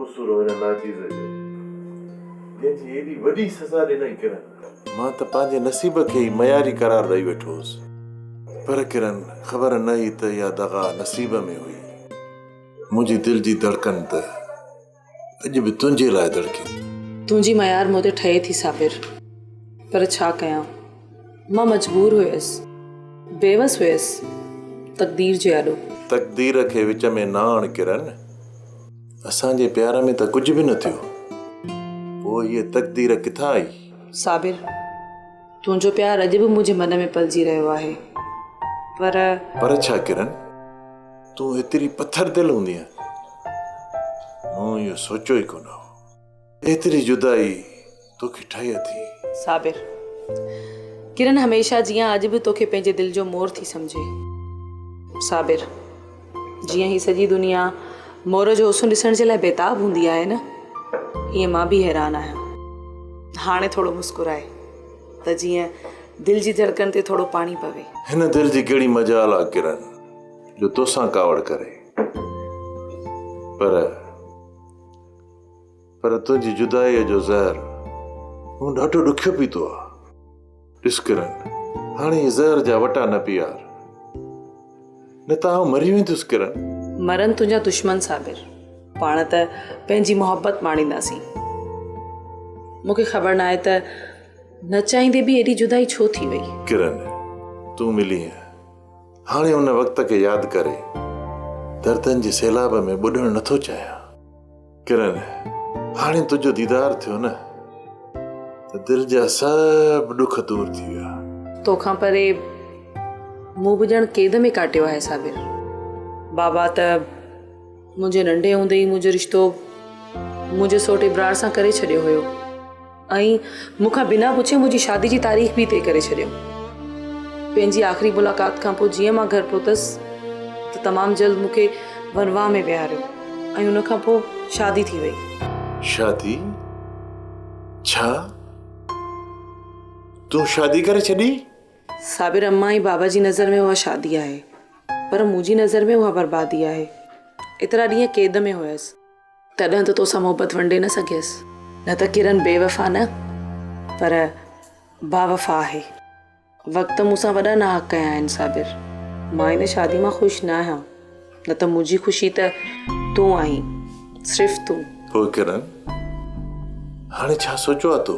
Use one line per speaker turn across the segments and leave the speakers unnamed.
قصور هن ناچيز جو، جنهن جي ايڏي وڏي سزا ڏنائين ڪرن. مان ته پنهنجي نصيب کي ئي معياري قرار ڏئي ويٺو هوس. پر ڪرن، خبر نه هئي ته اها دغا نصيب ۾ هئي. منهنجي دل جي ڌڙڪن ته اڄ به تنهنجي لاء ڌڙڪي ٿي. تنهنجي معيار
مون تي ٺهي ٿي صابر، پر ڇا ڪيان؟ مان مجبور هيس، بيوس هيس تقدير جي آڏو. تقدير کي
وچ ۾ نه آڻ ڪرن، اسان جي پيار ۾ ته ڪجهه به نه ٿيو، پوء هيء تقدير ڪٿان آئي؟ صابر!
تنهنجو پيار اڄ به منهنجي من ۾ پلجي رهيو آهي، پر. پر ڇا ڪرن،
تون ايتري پٿر دل هوندينء، مون اهو سوچيو ئي ڪونه هو. ايتري جدائي توکي ٺهي اٿي. صابر!
ڪرن هميشه جيان اڄ به توکي پنهنجي دل جو مور ٿي سمجهي. صابر! جيئن هي سڄي دنيا مور جو حسن ڏسڻ جي لاء بيتاب هوندي آهي نه ايئن مان به حيران آهيان. هاڻي ٿورو مسڪرائي ته جيئن دل جي ڌڙڪن تي ٿورو پاڻي پوي. هن دل جي ڪهڙي
مجال آ ڪرن جو توسان ڪاوڙ ڪري پر. پر تنهنجي جدائيء جو زهر مون ڏاڍو ڏکيو پيتو آ. ڏس ڪرن، هاڻي هي زهر جا وٽا نه پيار، نه ته آئون مري ويندس ڪرن. مرن تنهنجا
دشمن صابر، پاڻ ته پنهنجي محبت ماڻينداسين. مون کي خبر ناهي ته نه چاهيندي به ايڏي جدائي ڇو ٿي وئي. ڪرن،
تون ملينء، هاڻي ان وقت کي ياد ڪري دردن جي سيلاب ۾ ٻڏڻ نه ٿو چاهيان. ڪرن هاڻي تنهنجو ديدار ٿيو نه ته دل جا سڀ ڏک دور ٿي ويا. توکان پري
مون به ڄڻ قيد ۾ ڪاٽيو آهي صابر. بابا ته منهنجي ننڍي هوندي ئي منهنجو رشتو منهنجي سوٽي برار سان ڪري ڇڏيو هيو. ۽ مون کان بنا پڇي منهنجي شادي جي تاريخ به طئي ڪري ڇڏيو. پنهنجي آخري ملاقات کان پوء جيئن مان گهر پهتس ته تمام جلد مون کي ورنواهه ۾ ويهاريو ۽ ان کان پوء شادي ٿي وئي. شادي؟
ڇا تون شادي ڪري ڇڏي؟ صابر امان
۽ بابا جي نظر ۾ اها شادي آهي پر منهنجي نظر ۾ اها بربادي آهي. ايترا ڏينهن قيد ۾ هيس. تڏهن ته توسان محبت ونڊي نه سگهيس. نه ته ڪرن بيوفا نه پر باوفا آهي. وقت مون سان وڏا ناحق ڪيا آهن صابر. مان هن شادي مان خوش نه آهيان. نه ته منهنجي خوشي ته تون آهين. صرف تون. پوء ڪرن
هاڻي ڇا سوچيو آهي تو؟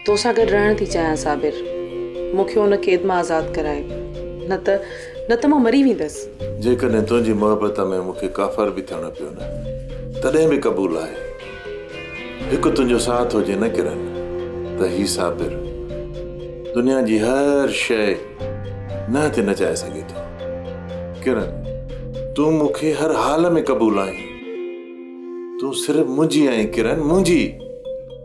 تو سان گڏ رهڻ
ٿي چاهيان صابر. مون کي ان قيد مان آزاد ڪرائي. نه ته نه ته مان مري ويندس. جيڪڏهن تنهنجي
محبت ۾ مون کي ڪافر به ٿيڻو پيو نه تڏهن به قبول آهي. هڪ تنهنجو ساٿ هجي نه ڪرن ته هي صابر دنيا جي هر شيء نه تي نچائي سگهي ٿو. ڪرن تون مون کي هر حال ۾ قبول آهين. تون صرف منهنجي آهين ڪرن منهنجي.